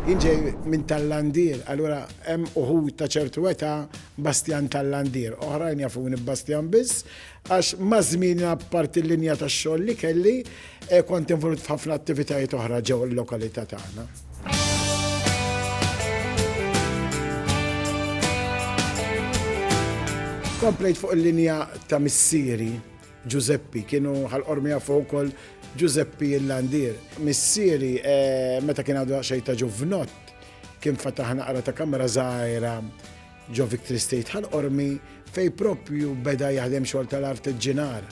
Jien ġej minn Tallandier, allura hemm uħud ta' ċertu età Bastjan Tallandier. Oħrajn jafuni b'Bastjan biss, għax maż-żmien apparti l-linja tax-xogħol li kelli, eh, kont involut f'ħafna attivitajiet oħra ġew il-lokalità tagħna. Komplejt fuq il-linja ta' missieri, Ġużeppi, kienu ħalqor miegħu fuq ukoll Ġużeppi il-landier. Missieri, meta kien għadu xejn ta' ġuvnott, kien fataħ naqra ta' kamra żgħira ġo Victory State ħalqormi fejn proprju beda jaħdem xogħol tal-artiġġinar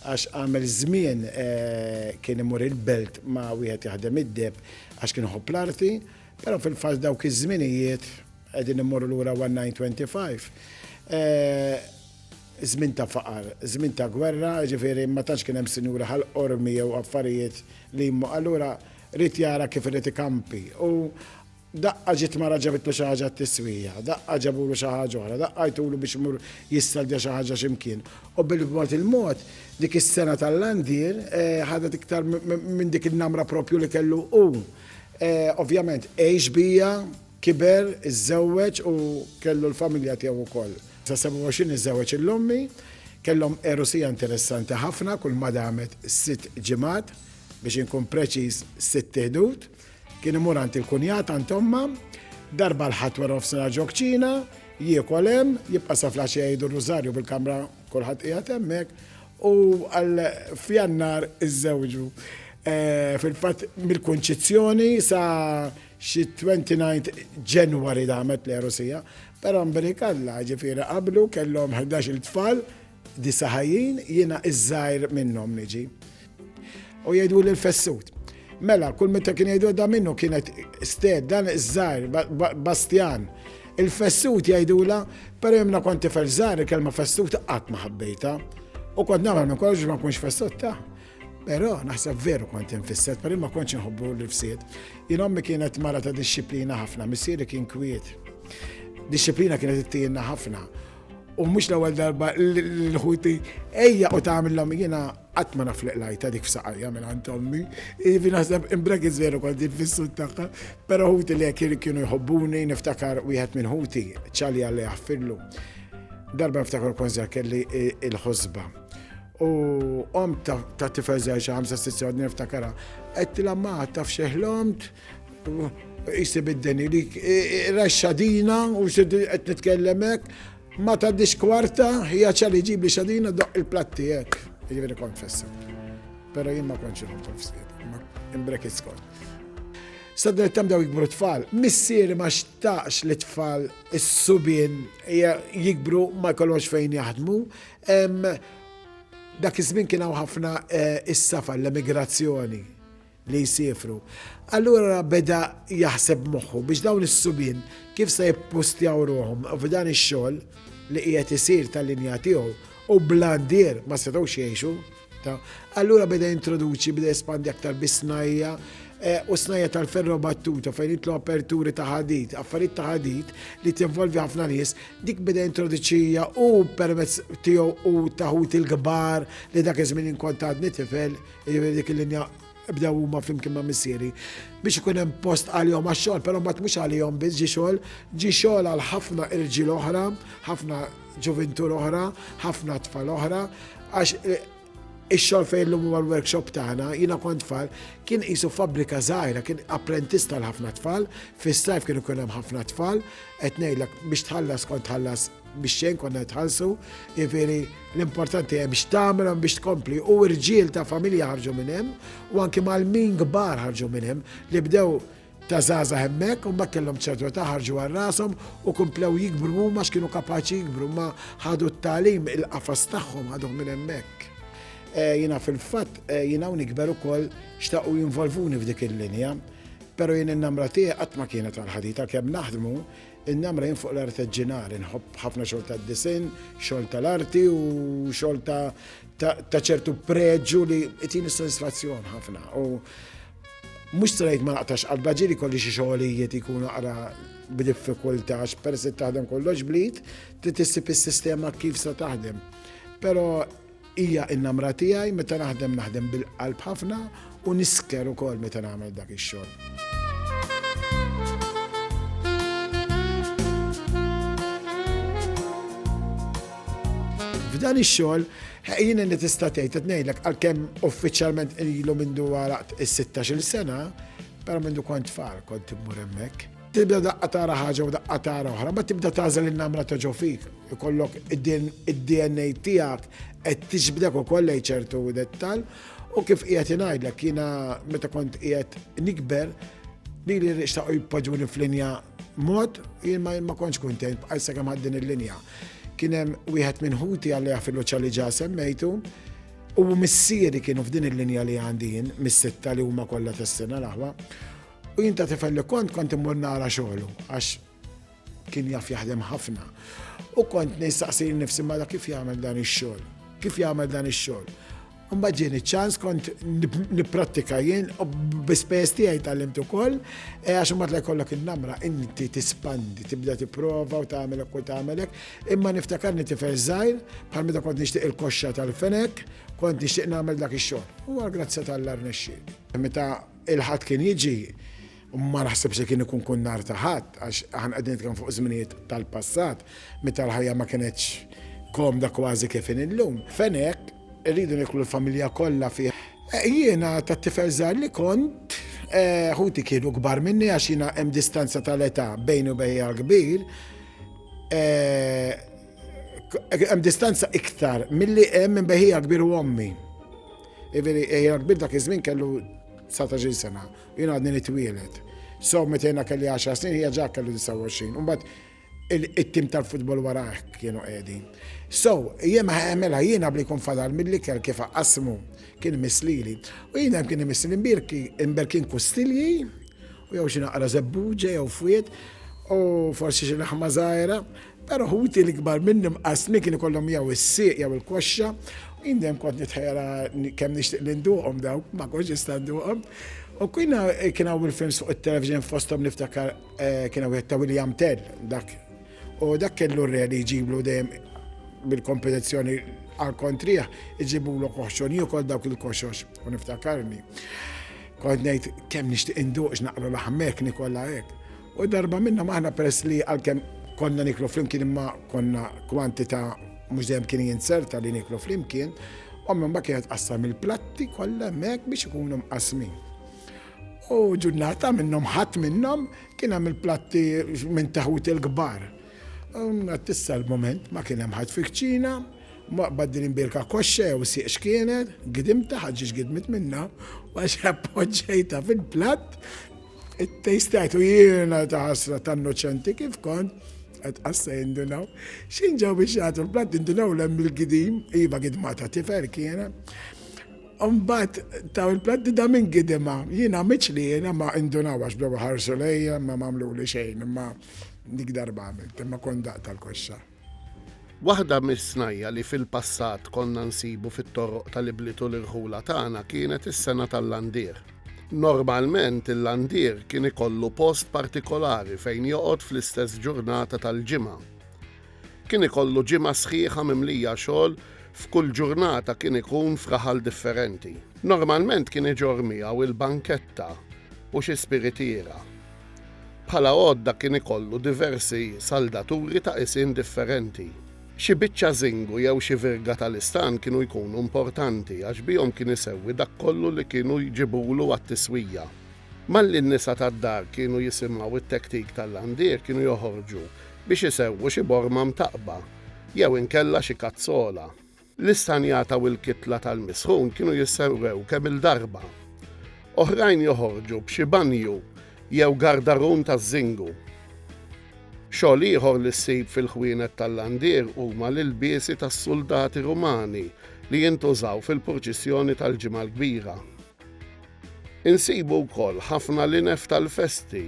għax għamel żmien eh, kien imur il-belt ma' wieħed jaħdem id-deb għax kien ħobb l-arti, però fil-fatt dawk iż-żminijiet qegħdin immorru lura 1925. Eh, Żmien ta' faqar, żmien ta' gwerra, jiġifieri ma tantx kien hemm sinjuri bħal qormi jew affarijiet li jmmu. Allura ried jara kif irid ikampi u daqqa ġiet mara ġabitlu xi ħaġa t-tiswija, daqqa ġabulu xi ħaġa oħra, daqqa għajtulu biex imur jissaldja xi ħaġa xi mkien. U bil-mod il-mod dik is-sengħa tal-landier ħadet iktar minn dik in-namra proprju li kellu hu. Ovvjament għex bija, kiber, iżżewweġ u kellu l-familja tiegħu wkoll. Sa 27 iżżewweġ il-Lommi, kellhom għerusija interessanti ħafna kull ma damet sitt ġimgħat, biex inkun preċiż sitt iħdud. Kien imur għand il-kunjat għand ommha, darba l-Ħadd wara nofsinhar ġo kċina, jiekol hemm, jibqa' sa flaxija jgħidu r-rużarju bil-kamra kulħadd qiegħed hemmhekk u għal f'Jannar iżżewġu. Fil-fatt mill-kunċizzjoni sa Xit-29 Ġenwari damet l-għerusija, però mbrikalla, ġifieri qablu kellhom ħdax-il tfal, disa' ħajjin, jiena iż-żgħir minnhom niġi. U jgħiduli l-fessut. Mela, kull meta kien jgħidu da minnu kienet sted, dan iż-żgħir, Bastjan. Il-fessut jgħidula, però jemna kont tifel żgħir il-kelma fessut qatt ma ħabbejta. U kont nagħmel minn kollox ma nkunx fessut ta'. Però naħseb veru kont infisset, per ma kontx nħobbu l-rfsiet. Jien ommi kienet mara ta' disċiplina ħafna, missieri kien kwiet. Disċiplina kienet ittijenna ħafna. U mhux l-ewwel darba l-ħuti ejja u tagħmilhom jiena qatt ma nafliq lajta dik f'saqajja minn għand ommi. Ivi naħseb imbrekit veru kont fis-sud tagħha, però ħuti li kienu jħobbuni niftakar wieħed minn ħuti ċalja li għaffillu. Darba niftakar konżer kelli il-ħosba U om ta' tifel zaħi xi ħamsa sitt sewd niftakara. Qedtilha ma taf xeħlomt jisib id-deni li raxxadina u qed nitkellem hekk ma ta' diskwarta hija ċali ġib li xadina doq il-platti hekk. Jiġifieri kont fessa. Però jien ma kontx irħom f'sied, ma imbrekit skont. Sadret tam daw jikbru tfal, missieri ma xtaqx li tfal is-subien jikbru ma jkollhomx fejn jaħdmu, Dak iż-żmien kien hawn ħafna is-safar, l-emigrazzjoni li jsifru. Allura beda jaħseb moħħu biex dawn is-subien kif se jippustjaw ruħhom f'dan ix-xogħol li qiegħed isir tal-linja tiegħu u blandier ma setgħux jgħixu. Allura beda introduċi, beda espandi aktar bisnajja eh, u snajja tal-ferro battuta fejn jitlu aperturi ta' ħadid, affarijiet ta' ħadid li tinvolvi ħafna nies, dik beda introduċija u permezz tiegħu u taħut il-kbar li dak iż-żmien inkont għadni tifel, jiġifieri dik il-linja bdew huma flimkien ma' missieri biex ikun hemm post għalihom għax-xogħol, però mbagħad mhux għalihom biss ġi xogħol, ġi xogħol għal ħafna irġiel oħra, ħafna ġuvintur oħra, ħafna tfal oħra, għax eh, ix-xogħol fejn l-lum huwa l-workshop tagħna, jiena kont tfal, kien qisu fabbrika żgħira, kien apprentista l ħafna tfal, fis-sajf kien ikun hemm ħafna tfal, qed ngħidlek biex tħallas kont tħallas biex xejn konna jitħallsu, jiġifieri l-importanti hemm x'tagħmel hemm biex tkompli u rġiel ta' familja ħarġu minn hemm u anke mal-min kbar ħarġu minn hemm li bdew ta' żgħażagħ hemmhekk u mbagħad kellhom ċertu età ħarġu għal rashom u komplew jikbru huma x'kienu kapaċi jikbru ma ħadu t-tagħlim il-qafas tagħhom ħadhom minn hemmhekk. Eh, jiena fil-fatt eh, jiena hawn ikber ukoll xtaqu jinvolvuni f'dik il-linja, però jien in-namra tiegħi qatt ma kienet għal ħadita kemm naħdmu In-namra jien fuq l-arteġġinar, inħobb ħafna xogħol tad-disinn, xogħol tal-arti u xogħol ta' ċertu preġu li jtini sodisfazzjon ħafna. U mhux strajt ma naqtax qalba ġiri kolli xi xogħolijiet ikunu qara b'diffikultax, peress taħdem kollox blit, trid issib is-sistema kif se taħdem. Però Hija n-namra tiegħi, meta naħdem naħdem bil-qalb ħafna u nisker ukoll meta nagħmel dak ix-xogħol. F'dan ix-xogħol jien li tista' tgħid qed ngħidlek għalkemm uffiċjalment ilu mindu għalaq is-16-il sena, però mindu kont tfal kont immur hemmhekk. Tibda daqqa tara ħaġa u daqqa tara oħra, ma tibda tażel in-namra ta' ġo fik. Ikollok id-DNA tiegħek qed tiġbdek ukoll lejn ċertu dettal u kif qiegħed ingħidlek jiena meta kont qiegħed nikber li li rixtaqu jpoġġuni f'linja mod jien ma kontx kuntent bħal sakemm ħaddin il-linja. Kien hemm wieħed minn ħuti għalli għafilu ċalli ġa semmejtu u missieri kienu f'din il-linja li għandin mis-sitta li huma kollha tas-sena l-aħwa U jien ta' tifel li kont kont immur nara xogħlu għax kien jaf jaħdem ħafna. U kont nistaqsi nifsi mala kif jagħmel dan ix-xogħol. Kif jagħmel dan ix-xogħol. Mbagħad ġieni ċans kont nipprattika jien u bispejjeż tiegħi tgħallimt ukoll e għax imbagħad jkollok in-namra inti tispandi tibda tipprova u tagħmel u tagħmelek. Imma niftakarni tifel żgħir bħal meta kont nixtieq il-koxxa tal-fenek kont nixtieq nagħmel dak ix-xogħol. U għal grazzja tal-arnexxi. Meta Il-Ħadd kien jiġi, u ma naħsibx li kien ikun kun nhar ta' Ħadd, għax aħna qegħdin nitkellmu fuq żminijiet tal-passat, meta l-ħajja ma kinetx komda kważi kif inhi llum. F'Għenek irridu nieklu l-familja kollha fih. Jiena ta' tifel żgħir li kont, ħuti kienu kbar minni għax jiena hemm distanza tal-età bejni u bejn l-kbir, hemm distanza iktar milli hemm minn bejn ħija l-kbir u ommi. Iveri, jena kbir dak iż-żmien kellu 19 sena, jena għadni nitwielet. So, meta jena kelli 10 snin, hija ġa kellu 29. Umbat, il-tim tal-futbol wara kienu qegħdi. So, jema għamela jiena bli kun fadal mill-ikel kif qasmu kien mislili. U jiena kien mislili mbirki, mbirkin kustilji, u jew xi naqra zebbuġe, jew fwiet, u forsi xi laħma zaħira. Però ħuti l-ikbar minni mqassmin kien ikollhom jew is-sieq jew il-koxxa u jien dejjem kont nitħejjara kemm nixtieq li nduqhom dawk, ma kontx nista' nduqhom. U kien kien hawn il-films fuq it-television fosthom niftakar eh, kien hawn ta' William Tell dak. U dak kellu r-re li jġiblu dejjem bil-kompetizzjoni għal kontriħ, iġibu l koħxon, jukol dawk il-koxox, u niftakarni. Kont ngħid kemm nixtieq induqx naqra l-aħmek nikolla hekk. U darba minnhom aħna peress li għalkemm konna niklu flimkien imma konna kwantità mhux dejjem kien jinzerta li niklu flimkien, ommi ma kienet qassam il-platti kollha hemmhekk biex ikunu mqasmin. U ġurnata minnhom ħadd minnhom kien hemm il-platti minn taħut il-kbar. Tissa l-moment ma kien hemm ħadd fikċina, ma baddilin birka koxxa jew sieq x'kienet, gidimta ħaġġiex gidmit minna, għax appoġġejta fil-platt It-tejstajt u jiena ta' ħasra ta' innoċenti kif kont qed qassa jindunaw. X'in ġew biex jagħtu l-platt indunaw l-hemm il-gidim, iva gidma ta' tifel kienet. Umbat taw il-platti da minn gidima, jina miċ li jina ma indunaw għax bdew ħarsu lejja ma mamlu li xejn, ma dik darba għamilt, ma kondaq tal-koxxa. Waħda mis-snajja' li fil-passat konna nsibu fit-toroq tal-ibliet u l-irħula tagħna kienet is-sengħa tal-landier. Normalment il-landier kien ikollu post partikolari fejn joqgħod fl-istess ġurnata tal-ġimgħa. Kien ikollu ġimgħa sħiħa mimlija xogħol f'kull ġurnata kien ikun f'raħal differenti. Normalment kien iġorr miegħu l-banketta u xi spiritiera. Bħala għodda kien ikollu diversi saldaturi ta' qisien differenti. Xi biċċa żingu jew xi virga tal-istan kienu jkunu importanti għax bihom kien isewwi dak kollu li kienu jġibulu għat-tiswija. Malli n-nisa tad-dar kienu jisimgħu t-tektik tal-landier kienu joħorġu biex isewwu xi borma mtaqqba jew inkella xi kazzola. L-istanjata u l-kitla tal-misħun kienu jissewwew kemm-il darba. Oħrajn joħorġu b'xi banju jew gardarun taż-żingu. Xogħol ieħor li ssib fil-ħwienet tal-landier huma l-ilbiesi tas-suldati Rumani li jintużaw fil-purċissjoni tal-Ġimgħa l-Kbira. Insibu wkoll ħafna linef tal-festi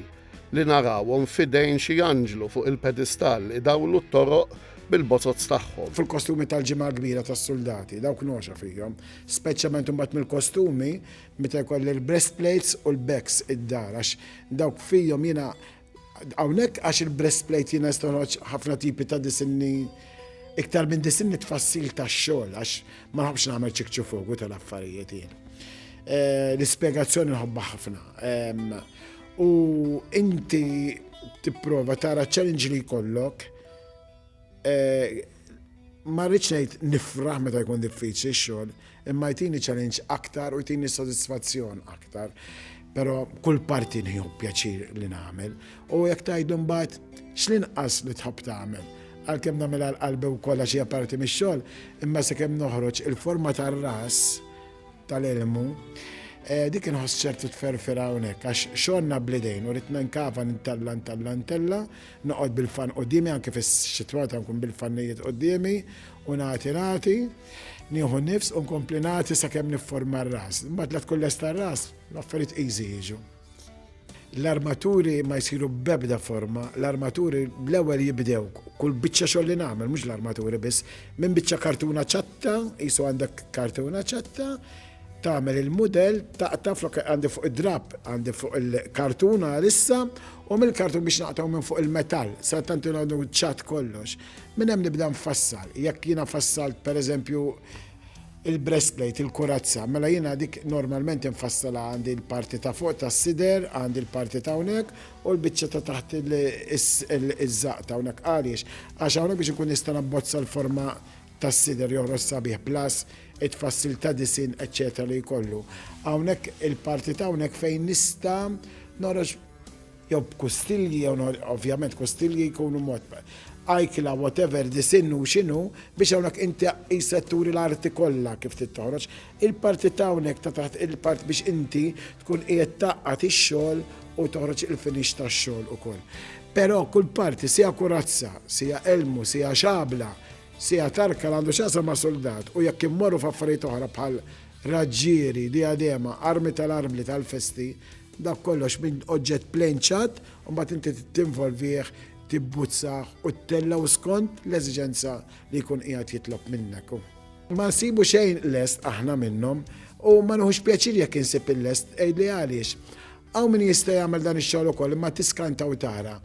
li narawhom f'idejn xi anġlu fuq il-pedistall idawlu t-toroq bil-bozozz tagħhom. Fil-kostumi tal-Ġimgħa l-Kbira tas-suldati, dawk nogħxa fihom, speċjalment imbagħad mill-kostumi meta jkolli l-breastplates u l-becks id-dar għax dawk fihom jiena Hawnhekk għax il-breastplate jiena nista' noħroġ ħafna tipi ta' disinni iktar minn disinni tfassil tax-xogħol għax ma nħobbx nagħmel ċikċu fogu tal-affarijiet jien. Eh, l-ispjegazzjoni nħobbha ħafna. U inti tipprova tara challenge li jkollok Eh, ma rridx ngħid nifraħ meta jkun diffiċli x-xogħol, imma jtini challenge aktar u jtini sodisfazzjon aktar. Però kull parti nħiju pjaċir li nagħmel u jekk tgħidu mbagħad x'linqas li tħobb tagħmel. Għalkemm nagħmel għal qalbi wkoll għax hija parti mix-xogħol, imma sakemm noħroġ il-forma tar-ras tal-ilmu eh, dik inħoss ċertu tferfira hawnhekk għax xogħolna blidejn u rid nkava nintalla ntalla ntella Noqgħod bil-fann quddiemi, anke fix-xitwata nkun bil-fannijiet quddiemi u nagħti nagħti. Nieħu nifs u nkompli nagħti sakemm nifforma r-ras. Imbagħad la tkun lesta r-ras, l-affarijiet easy jiġu. L-armaturi ma jsiru b'ebda forma, l-armaturi l-ewwel jibdew kull biċċa xogħol li nagħmel, mhux l-armaturi biss, minn biċċa kartuna ċatta, qisu għandek kartuna ċatta, tagħmel il-mudell taqta' flok għandi fuq id-drapp għandi fuq il-kartun għalissa u mill-kartun biex naqtgħu minn fuq il-metall sa tant inħodu ċat kollox. Minn hemm nibda nfassal. Jekk jiena fassalt pereżempju il-breastplate, il-kurazza, mela jiena dik normalment infassala għandi l-parti ta' fuq ta' sider, għandi l-parti ta' hawnhekk u l-biċċa ta' taħt iż-żaq ta' hawnhekk għaliex għax hawnhekk biex ikun nista' nabbozza l-forma tas-sider joħroġ sabiħ plus it-tfassil ta' disinn eċċetera li jkollu. Hawnhekk il-parti ta' hawnhekk fejn nista' noħroġ jew b'kustilji jew ovvjament kustilji jkunu mod ajkla whatever disinn hu x'inhu biex hawnhekk inti qisek turi l-arti kollha kif trid toħroġ. Il-parti t'hawnhekk ta' taħt il-part biex inti tkun qiegħed tgħaqqad ix-xogħol u toħroġ il-finish tax-xogħol ukoll. Però kull parti, siha kurazza, siha elmu, siha xabla, siha tarka li għandu x'jaqsam ma' suldat u jekk immorru f'affarijiet oħra bħal raġġieri, diadema, armi tal-armli tal-festi, dak kollox minn oġġett plain ċatt u mbagħad inti tinvolvih, tibbuzzah u ttellgħu skont l-eżiġenza li jkun qiegħed jitlob minnek hu. Ma nsibu xejn lest aħna minnhom u ma nieħux pjaċir jekk insib il-lest għidli għaliex. Hawn min jista' jagħmel dan ix-xogħol ukoll imma tiskanta u tara.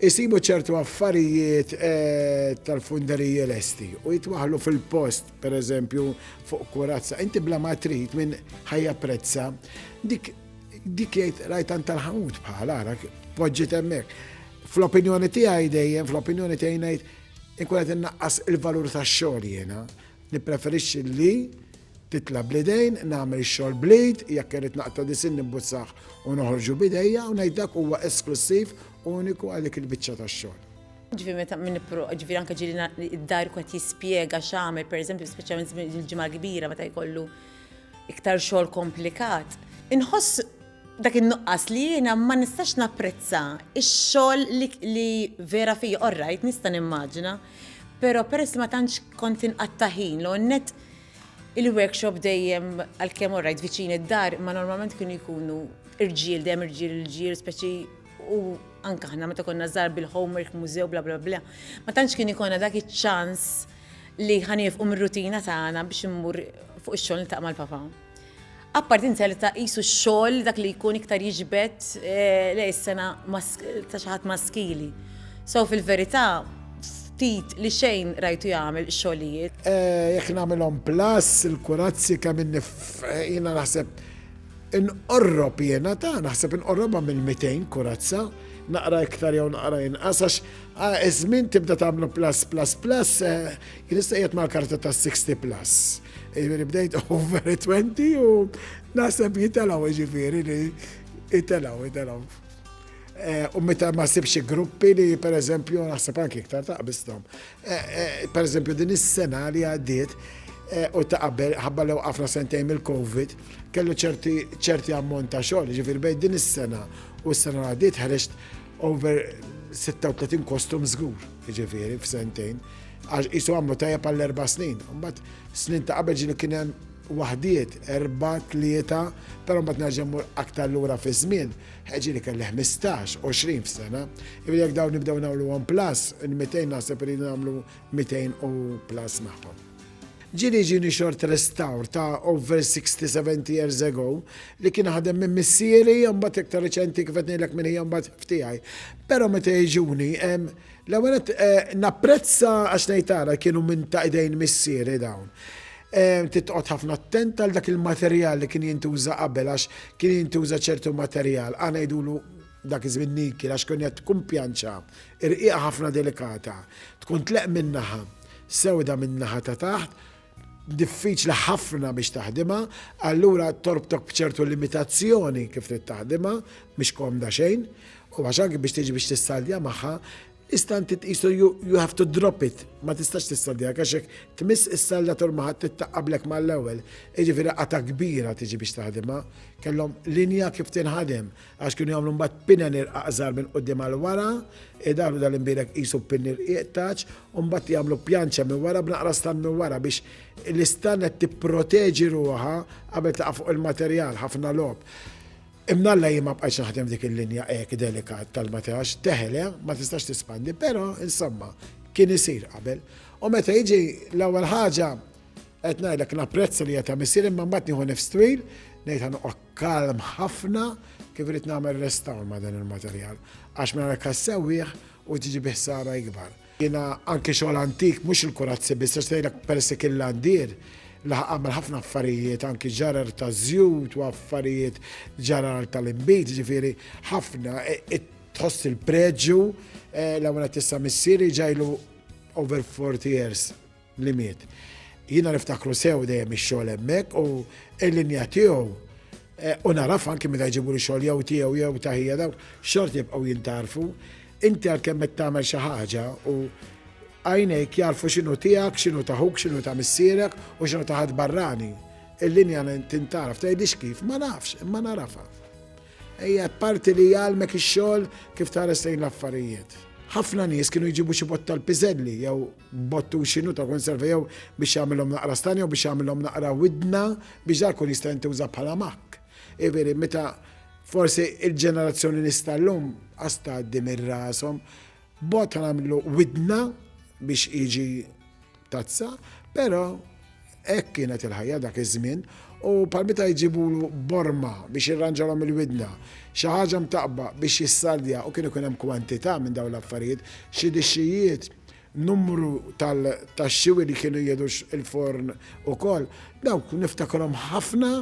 Isibu ċertu affarijiet eh, tal-funderiji lesti u jitwaħlu fil-post, per eżempju, fuq kurazza. Inti bla ma trid minn ħajja prezza. Dik dik jgħid rajtan tal-ħamut bħal ara poġġi temmek. Fl-opinjoni tiegħi dejjem, fl-opinjoni tiegħi ngħid Inkun qed innaqqas il-valur tax-xogħol jiena. Nippreferixxi li titla' bl-idejn, nagħmel ix-xogħol bl-id, jekk irrid naqta' disin nibbuzzah u noħorġu b'idejja u ngħid dak huwa esklussiv uniku għal dik il-biċċa tax-xogħol. Ġifi meta minn ġifi anke ġili id-dar kwet jispjega x'għamel, pereżempju speċjalment il-ġimgħa kbira meta jkollu iktar xogħol komplikat. Inħoss dak in-nuqqas li jiena ma nistax napprezza x-xogħol li vera fija, all right, nista' nimmaġina, però peress li ma tantx kont inqatta' ħin l net il-workshop dejjem għalkemm all right viċin id-dar, ma normalment kienu jkunu irġiel dejjem irġiel irġiel speċi u anka ħna meta konna żgħar bil-homework mużew bla bla bla. Ma tantx kien ikonna dak iċ-ċans li ħanif um rutina tagħna biex immur fuq ix-xogħol niltaq mal-papa. Apparti inzerta qisu x-xogħol dak li jkun iktar jiġbed eh, lej is-sena ta' xi ħadd maskili. So fil-verità ftit li xejn rajtu jagħmel xogħlijiet. Eh, jekk nagħmilhom plus il-kurazzi kemm inni jiena naħseb inqorrob jiena ta' naħseb inqorrobha mill-200 kurazza naqra iktar jew naqra inqas għax ah, iż-żmien tibda tagħmlu plus plus plus eh, Jien issa qiegħed mal-karta ta' 60 plus. Jiġifieri bdejt over 20 u naħseb jitalgħu jiġifieri li jitalgħu, jitalgħu. Eh, u meta ma sibx gruppi li per eżempju naħseb anki iktar taqbistom. Eh, eh, per eżempju din is-sena li għaddiet u ta' qabel ħabba lew għafna sentejn mill-Covid kellu ċerti ammont ta' xogħol, ġifir bejn din is-sena u s-sena għaddiet ħareġt over 36 kostum żgur. jiġifieri f'sentejn, għax qisu għamlu tajjeb għall-erba' snin. Imbagħad snin ta' qabel ġieli kien hemm waħdiet, erba', tlieta, però mbagħad nerġa' mmur aktar lura fiż-żmien, ġieli kelli 15, 20 f'sena. Ivi jekk dawn nibdew nagħmluhom plus, il-200 naħseb li nagħmlu 200 u plus magħhom. Ġieli jiġini xort restawr ta' over sixty, seventy years ago li kien ħadem minn missieri u mbagħad iktar riċenti kif qed ngħidlek minn ħija mbagħad f'tiegħi. Però meta jiġuni, l-ewwel nett napprezza għax ngħid ara kienu minn ta' idejn missieri dawn. Trid toqgħod ħafna attent għal dak il-materjal li kien jintuża qabel għax kien jintuża ċertu materjal, aħna ngħidulu, Dak iż-żmien Niki, għax kienet tkun pjanċa, irqiqa ħafna delikata, tkun tleqq minn naħa, sewda min-naħa ta' taħt, diffiċli ħafna biex taħdimha, allura torbtok b'ċertu limitazzjoni kif trid taħdimha, mhix komda xejn, u għax anki biex tiġi biex tissaldja magħha, tista' inti tqisu you, you have to drop it, ma tistax tissaldja għax hekk tmiss is-salda tul ma ħadd tittaqablek mal-ewwel, jiġifieri qata' kbira tiġi biex taħdimha, kellhom linja kif tinħadem, għax kienu jagħmlu mbagħad pinen irqaq żgħar minn quddiem għal wara, idaħlu dal-imbierek qisu pinn irqiq taċ, u mbagħad jagħmlu pjanċa minn wara b'naqra stan minn wara biex l-istan qed tipproteġi ruħha qabel taqa' fuq il-materjal ħafna lob. Imnalla jien ma bqajtx naħdem dik il-linja hekk delikat tal-materax, teħele, ma tistax tispandi, però insomma kien isir qabel. U meta jiġi l-ewwel ħaġa qed ngħidlek napprezza li qed missier imma mbagħad nieħu nifs twil ngħid ħanoqgħod Kalm ħafna kif rrid nagħmel restawr ma' dan il-materjal għax minn hekk ssewwih u tiġi bi ħsara ikbar. Jiena anke xogħol antik mhux il-kurazzi biss għax tgħidlek persi kien l-għandir laħaq għamel ħafna affarijiet anki ġarar ta' żjut u affarijiet ġarar tal-inbid, ġifieri ħafna e, e, tħoss il-preġju e, l-ewwel tista' missieri ġajlu over 40 years li miet. Jiena niftakru sew dejjem ix-xogħol hemmhekk u l-linja tiegħu eh, u naraf anki meta jġibu li xogħol jew tiegħu jew taħija daw xort jibqgħu jintarfu. Inti għalkemm qed tagħmel xi ħaġa u għajnejk jarfu x'inhu tiegħek, x'inhu taħuk, x'inhu ta' missierek u x'inhu taħad barrani. Il-linja tintaraf, tgħidix kif, ma nafx, ma narafa. Ejja parti li jgħalmek ix-xogħol kif tara sejn l-affarijiet. Ħafna nies kienu jġibu xi botta l-piżelli jew b'bottuxinu ta' konserva jew biex jagħmilhom naqra stan jew biex jagħmilhom naqra widna biex dak ikun jista' jintuża bħala makk. Iveri, meta forsi il-ġenerazzjoni nista' llum qas tgħaddi minn rashom, bot nagħmlu widna biex jiġi tazza, però Hekk kienet il-ħajja dak iż-żmien, u bħal meta jġibulu borma biex jirranġalhom il-widna, xi ħaġa mtaqqba biex jissaldja u kien ikun hemm kwantità minn dawn l-affarijiet, xi dixxijiet, numru tal-taxxiwi li kienu jieħdu l-forn ukoll, dawk niftakrhom ħafna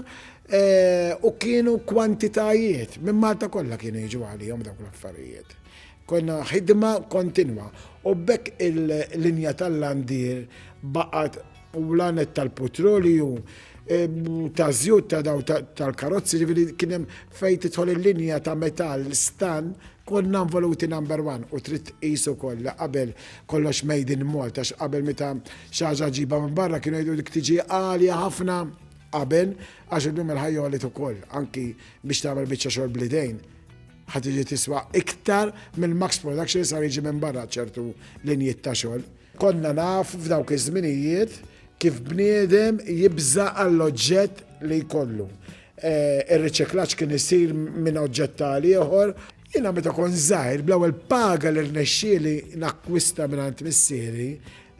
u kienu kwantitajiet, minn Malta kollha kienu jiġu għalihom dawk l-affarijiet. Konna ħidma kontinwa u b'hekk il-linja tal-landier baqgħet u l-għanet tal-putrolju, taż-żjut ta' dawn tal-karozzi, ġifieri kien hemm fejn tidħol il-linja ta' metall stan konna involuti number one u trid tqis ukoll li qabel kollox made in Malta x'qabel meta xi ħaġa ġibha minn barra kienu jgħidu dik tiġi għalja ħafna qabel għax illum il-ħajja għolit ukoll anki biex tagħmel biċċa xogħol blidejn ħad tiġi tiswa iktar mill-max production sar jiġi minn barra ċertu linjiet ta' xogħol. Konna nafu f'dawk iż-żminijiet kif bniedem jibża' għall-oġġett li jkollu. Ir-riċiklaġġ kien isir minn oġġett għal ieħor. Jiena meta kont żgħir, bl-ewwel paga li rnexxieli nakkwista mingħand missieri,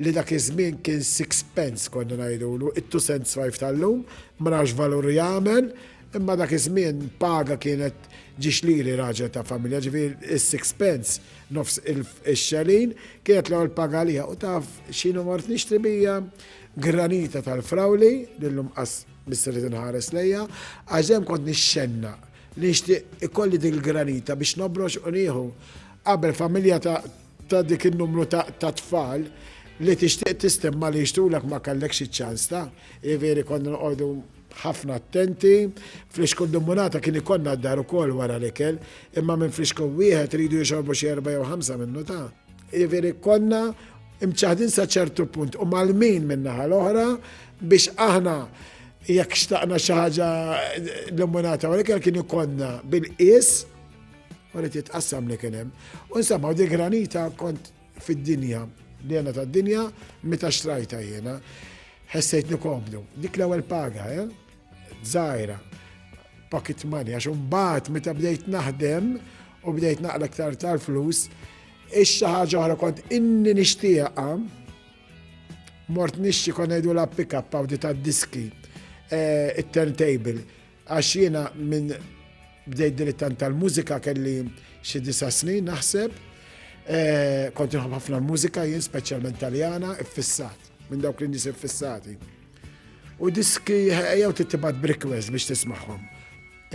li dak iż-żmien kien six pence konna ngħidulu, it-two cents five tal-lum, ma nafx x'valur jagħmel, imma dak iż-żmien paga kienet ġiex liri raġel ta' familja, ġifieri s-six pence Nofs ix-xelin kienet l-ewwel paga għalija u taf x'inhu mort nixtri bija? Granita tal-frawli li llum qas biss irid inħares lejha għax dejjem kont nixxennaq li nixtieq ikolli dik il-granita biex nobrox u nieħu. Qabel familja ta' dik in-numru ta' tfal li tixtieq tistemma li jixtrulek ma kellekx iċ-ċans ta', jiġifieri konna noqogħdu ħafna attenti. Flixkun dimmunata kien ikollna d-dar ukoll wara l-ikel, imma minn flixkun wieħed iridu jixorbu xi erba' jew ħamsa minnu ta'. Jiġifieri konna mċaħdin sa ċertu punt u malmin min-naħa l-oħra biex aħna jekk xtaqna xi ħaġa l-immunata u l-ikel kien ikollna bil-qies u li titqassam li kien hemm. U nsemmaw di granita kont Fid-dinja, l-jena ta' dinja, meta xtrajta jena, ħessejt nikomdu. Dik l-ewel paga, eh? Zaħira, pocket money, għax mbagħad meta bdejt naħdem u bdejt naqla ktar tal-flus, ix-xi ħaġa oħra kont inni nixtieqa mort nixti kon ngħidu la pick-up għaw di tad-diski eh, it-turntable. Għax jiena minn bdejt dilettant tal-mużika kelli xi disa' snin naħseb. Eh, kont nħobb ħafna l-mużika jien speċjalment Taljana, iffissat, minn dawk li nies iffissati. U diski jew tittibat brikwest biex tismagħhom.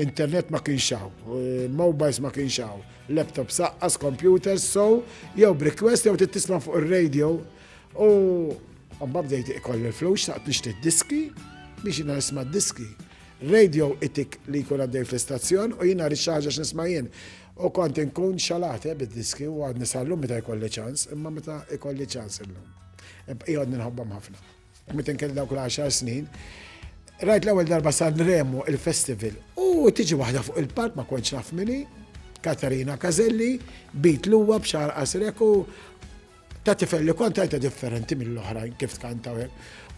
Internet ma kienx hawn, eh, mobiles ma kienx hawn, laptop saqqas, computers, so jew brikwest jew tittisma' fuq ir-radio U għamma bdejt ikolli l-flus, xtaqt nixtri diski biex jina nisma diski. Radio itik li jkun għaddej fl-istazzjon u jina rixħaġa x'nisma' jien. U kont inkun xalate bid-diski u għadni sallum meta jkolli ċans, imma meta jkolli ċans illum. Jgħodni nħobbam ħafna. Meta kelli dawk l-10 snin, rajt l-ewwel darba San Remo il-festival u tiġi waħda fuq il-park ma kontx naf minni, Katarina Kazelli, bit l-uwa b'xar qasrek u Ta' tifel li kont għajta differenti mill-oħrajn kif tkanta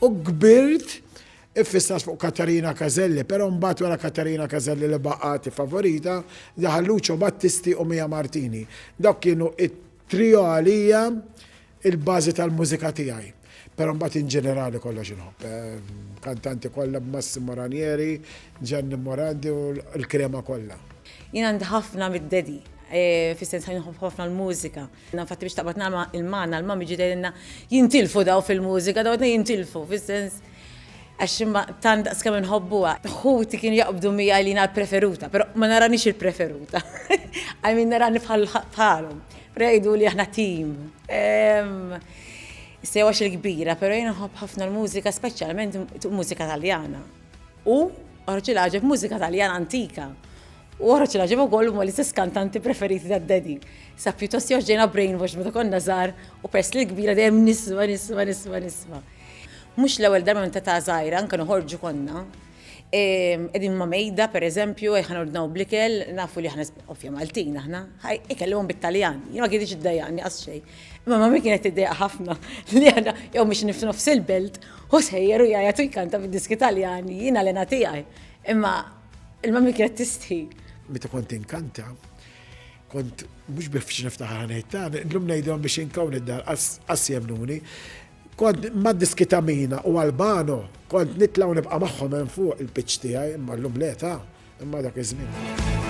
u kbirt Iffissas fuq Katarina Kazelli, pero mbagħad wara Katarina Kazelli li baqgħati favorita, daħal Lucio Battisti u Mia Martini. Dawk kienu it-trio għalija il-bażi tal-mużika tiegħi. Pero mbagħad in ġenerali kollox inħobb. Eh, kantanti kollha b'Massimo Ranieri, Gianni Morandi u l-krema kollha. Jien għandi ħafna mid-dedi, eh, fis-sens ħafna l-mużika. Jiena infatti biex taqbad nagħma il-magħna l-mami ġiet tgħidilna jintilfu daw fil-mużika, daw qed jintilfu fis-sens għax imma tant daqskemm inħobbuha. Ħuti kienu jaqbdu miegħi li jiena l-preferuta, però ma naranix il-preferuta. I mean narani bħalhom. Però jgħiduli aħna tim. Issa jew għax il-kbira, però jien nħobb ħafna l-mużika speċjalment mużika Taljana. U raġel għaġeb mużika Taljana antika. U oħroġ l-għaġeb ukoll huma l-istess kantanti preferiti ta' Daddy. Sa pjuttost jew ġejna brainwashed meta konna żgħar u peress li kbira dejjem nisma' nisma' nisma' nisma'. Mhux l-ewwel darba minn ta' età żgħira anke noħorġu konna qegħdin ma' mejda pereżempju ejja ħa nordnaw bl-ikel, nafu li aħna ovvja Maltin aħna, ħa ikellimhom bit-Taljan. Jien ma kinitx iddejjaqni qatt xejn. Imma mummy kienet tiddejjaq ħafna li aħna jew mixin f'nofs il-belt, hu sejjer u jgħajjat u jkanta bid-diski Taljani, jiena l-hena tiegħi. Imma Il-mammi kienet tistħi. Meta kont inkanta, kont mhux biex niftaħar ngħid ta' llum ngħidhom biex inkawn id-dar qas jemnuni. Kont mad diskitamina u Albano, kont nitlaw nibqa' magħhom hemm fuq il-pitch tiegħi, imma llum le ta' imma dak iż-żmien.